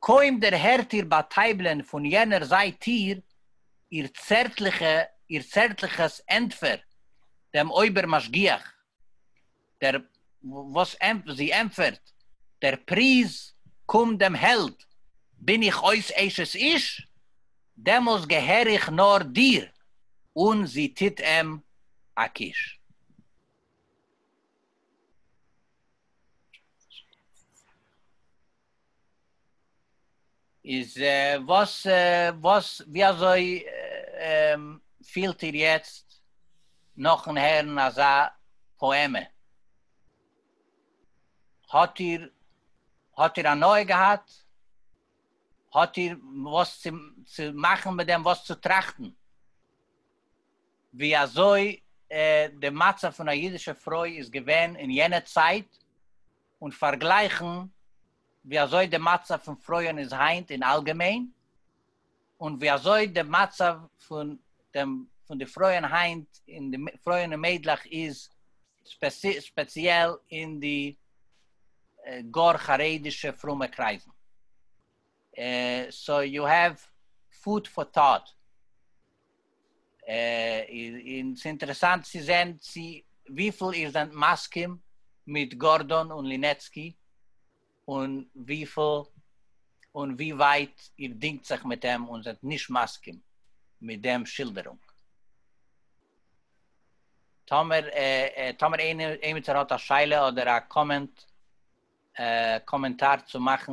קױם דערהערט איר בײַ טײַבלען פֿון יענער זײַט טיר איר צערטלעכע, איר צערטלעכעס ענטפֿער דעם אױבער-משגיח, דער, װאָס ענט, זי ענטפֿערט, דער פּריז, קום דעם העלד, בין איך אױס אשת-איש, דעמאָלסט געהער איך נאָר דיר, און זי טוט אים אַ קוש. איז וואס וואס ווי אזוי פילט איר יעצט נאכן הערן אזא פאעמע? האט איר האט איר הנאה געהאט? האט איר וואס צו צו מאכן מיט דעם וואס צו טראכטן? ווי אזוי די מצב פון א אידישע פרוי איז געווען אין יענע צייט און פארגלייכן ווי אזוי די מצב פון פרויען איז היינט אין אלגעמיין, און ווי אזוי די מצב פון דעם פון די פרויען היינט אין די פרויען און מיידלעך איז ספעציעל אין די גאר חרדישע פרומע קרייזן. סאו יו העוו פוד פאר טאט. און ס'איז אינטערעסאנט צו זען צו וויפיל איר זענט מסכים מיט גארדאן און לינעצקי, און וויפיל און ווי ווייט איר דינגט זיך מיט אים און זענט נישט מסכים מיט דעם שילדערונג. טאמער טאמער איינער עימיצער האט א שאלה אדער א קאמענט קאמענטאר צו מאכן,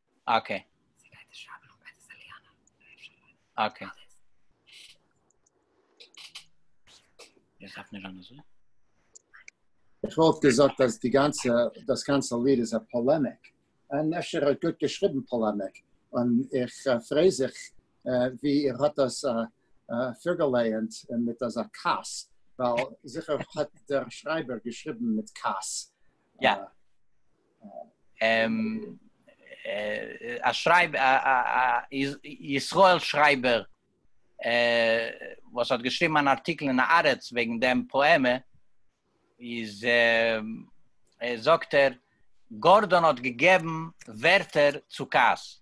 אקעי. אקעי. איך האף נישט אנדערש. איך וואלט געזאגט אז די גאנצע דאס גאנצע ליד איז א פאלעמיק, און אפשר האט גוט געשריבן פאלעמיק, און איך פריי זיך ווי איר האט דאס פארגעלייענט מיט אזא כעס, ווייל זיכער האט דער שרייבער געשריבן מיט כעס, יא א שרייבער א ישראל שרייבער וואס האט געשריבן אן ארטיקל אין הארץ וועגן דעם פאעמע איז זאגט ער גארדאן האט געגעבן ווערטער צו כעס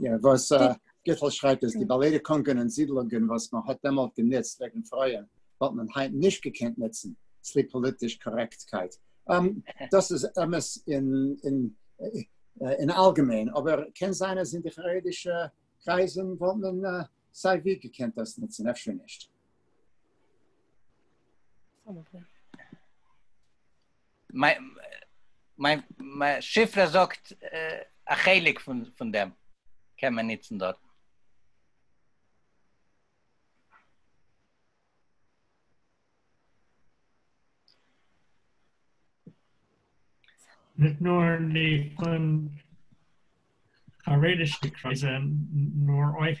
יא, וואס גיטל שרייבט איז די באלעדע קונגען און זידלונגען וואס מען האט דעמאלט גענוצט וועגן פרויען וואלט מען היינט נישט געקענט נוצן צוליב פאליטיש קארעקטקייט. דאס איז אמת אין אלגעמיין, אבער קען זיין אז אין די חרדישע קרייזן וואלט מען סיי ווי געקענט דאס נוצן, אפשר נישט. מיין מיין מיין שיפרע זאגט א חלק פון פון דעם קען מען ניצן דארט. נישט נאר נישט פון חרדישע קרייזען נאר אויך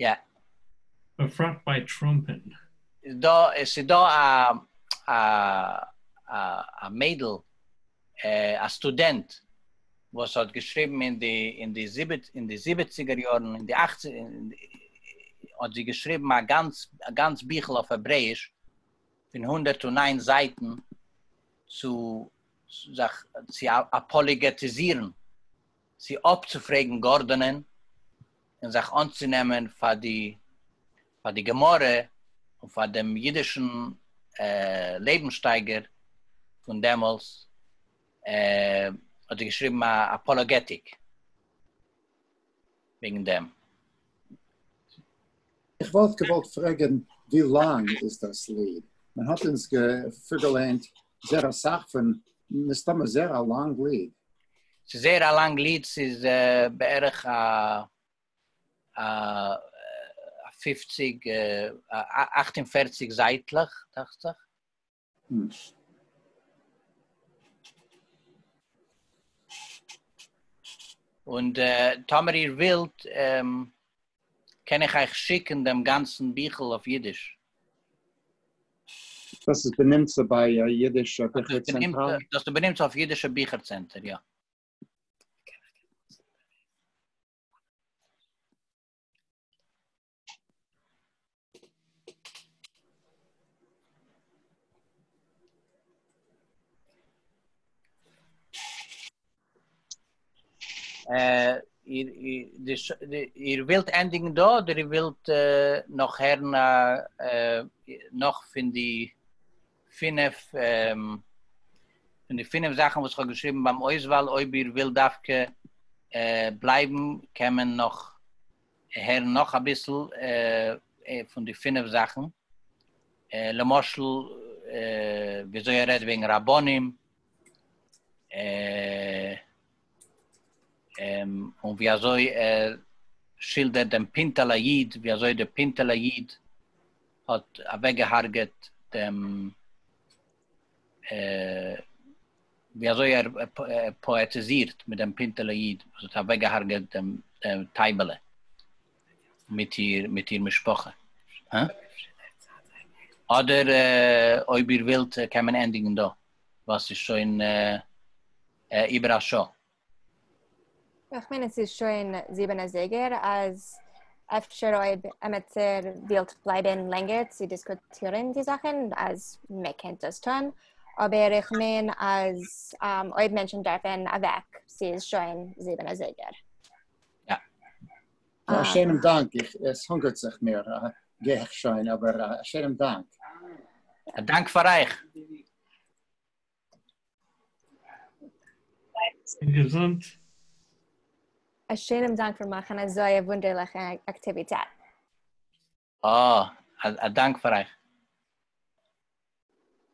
יא. בפרט ביי טראמפ'ן. איז דא עס איז דא א א א א מיידל א סטודענט וואס האט געשריבן אין די אין די זיבעט אין די זיבעציגער יארן אין די אכציג האט זי געשריבן א גאנץ א גאנץ ביכל אויף העברעיש פון הונדערט און איין זייטן צו זיך צו אפאליגעטיזירן צו אפצופרעגן גארדאנען און זיך אנצונעמען פאר די פאר די גמרא און פאר דעם אידישן לעבנסשטייגער פון דעמאלס האט ער געשריבן א אפאלאגעטיק. וועגן דעם. איך וואלט געוואלט פרעגען ווי לאנג איז דאס ליד? מען האט אונז פארגעליינט זייער אסאך פון מסתמא זייער א לאנג ליד. ס'איז זייער א לאנג ליד, ס'איז בערך א פֿופֿציק, אַכט און פֿערציק זייטלעך דאכט זיך. און טאמער איר ווילט קען איך אייך שיקן דעם גאנצן ביכל אויף אידיש. דאס איז בנמצא ביי אידישע ביכער צענטער? דאס איז בנמצא אויף אידישע ביכער צענטער, יא. אה, איר איר ווילט ענדיגן דא אדער איר ווילט נאך הערן א נאך פון די פינף פון די פינף זאכן וואס כ'האב געשריבן ביים אויסוואל אויב איר ווילט דווקא בלייבן קען מען נאך הערן נאך אביסל פון די פינף זאכן, למשל וויאזוי ער רעדט וועגן רבנים, און ווי אזוי ער שילדערט דעם פינטעלע איד, ווי אזוי דער פינטעלע איד האט אוועקגעהארגעט דעם ווי אזוי ער פאעטיזירט מיט דעם פינטעלע איד וואס האט אוועקגעהארגעט דעם טייבעלע מיט איר משפחה. אדער אויב איר ווילט קען מען ענדיגן דא ווייל ס'איז שוין איבער א שעה. איך מיין עס איז שוין זיבן אזייגער אז אפשר אויב עמיצער ווילט בלייבן לענגער צו דיסקוטירן די זאכן אז מען קען דאס טון, אבער איך מיין אז אויב מענטשן דארפן אוועק ס'איז שוין זיבן אזייגער. א שיינעם דאנק, עס הונגערט זיך מיר, גיי איך שוין, אבער א שיינעם דאנק. א דאנק פאר אייך. געזונט. א שענעם דאנק פאר מאכן אזוי א וואונדערליכע אקטיוויטעט. אה, א דאנק פאר אייך.